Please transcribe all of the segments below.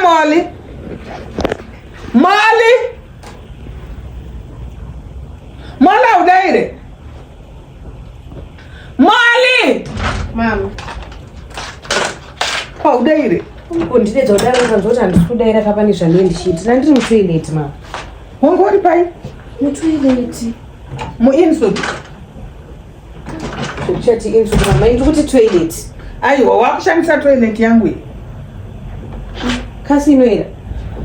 Molly. Molly. Molly haudaire. Molly. Mama. Haudaire. Undidedza kudaro ukanzwa kuti handisi kudaira kapa nezvandie ndichiiti. Nandiri mutoileti mama. Wanga uri pai? Mutoileti. Muinsobi. Chati inzwi mama inzwi kuti toilet. Aiwa wakushandisa toilet yangu iyi. Kasi inoera.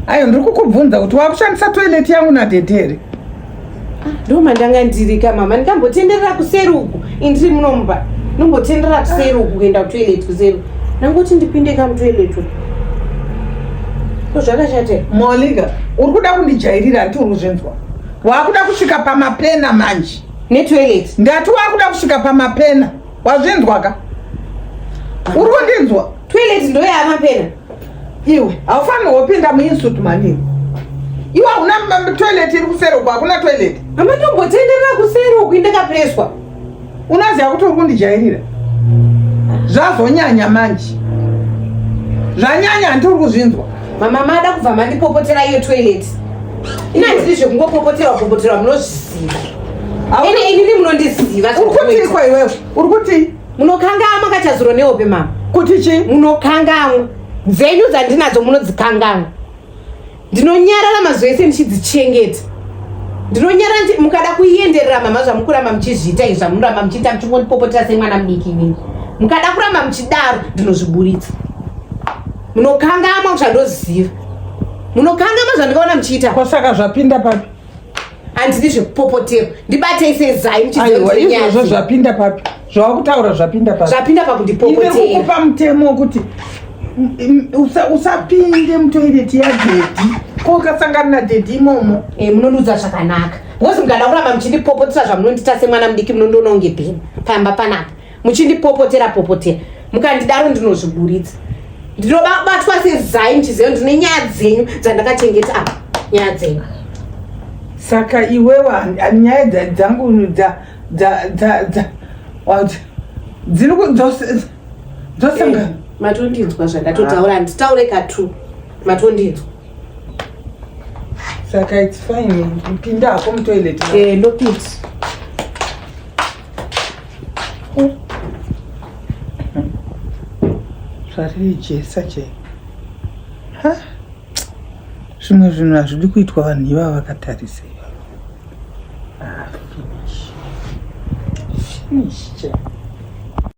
Ayo ndiri kukubvunza kuti wakushandisa toilet yangu na dede here? Ah, Ndo mandanga ndiri ka mama ndikambotenderera kuseri uku indiri munomba. Nombotenderera kuseri uku kuenda kutoilet kuseri. Nangoti ndipinde ka mutoilet uku. Ko zvakashata. Molinga uri kuda kundijairira hanti uri kuzvinzwa. Wakuda kusvika pamapena manje. netoilet ndati wakuda kusvika pamapena wazvinzwaka uri kundinzwa toilet ndoyamapena iwe haufanirwa kupinda muinstitute manini iwe hauna toilet iri kuseri uko hakuna toilet amatombotendera kuseri uku indakapreswa unoziva kuti uri kundijairira zvazonyanya manje zvanyanya hanti uri kuzvinzwa mama mada kubva mandipopotera iyo toilet ini handiri zvekungopopoterwa popoterwa munozviziva aune inini munondiziva uri kutii kwa iwewe uri kutii munokangamwa kachazuro nehope mama kuti chii munokangamwa dzenyu dzandinadzo munodzikangamwa ndinonyarara mazuva ese ndichidzichengeta ndinonyara nti mukada kuienderera mama zvamukuramba muchizviita izvi zvamunoramba muchiita muchingondipopotera semwana mudiki inini mukada kuramba muchidaro ndinozviburitsa munokangamwa zvandoziva munokangamwa zvandikaona muchiita kwasaka zvapinda papi handidi zvekupopotera ndibatei sezai muchiizvozvo zvapinda papi zvawakutaura zvapinda papi zvapinda pakundipopoterakukupa mutemo wekuti usapinde mutoireti yadhedhi ko ukasangana nadhedhi imomo e, munondiudza zvakanaka because mukada kuramba muchindipopotisa zvamunondita semwana mudiki munondiona unge bheni pamba panapa muchindipopotera popotera mukandidaro ndinozviburitsa ndinobatwa sezai ndichiziva ndine nyaya dzenyu dzandakachengeta apa nyaya dzenyu saka iwewa nyaya dzangu dziri dzosanga eh, matondinzwa zvandatotaura handitaure katu matondinzwa saka its fine pinda hako mutoilet eh, ndopinda zvaririjesa che ha zvimwe zvinhu hazvidi kuitwa vanhu ivava vakatarisa ivava ah, finish finish che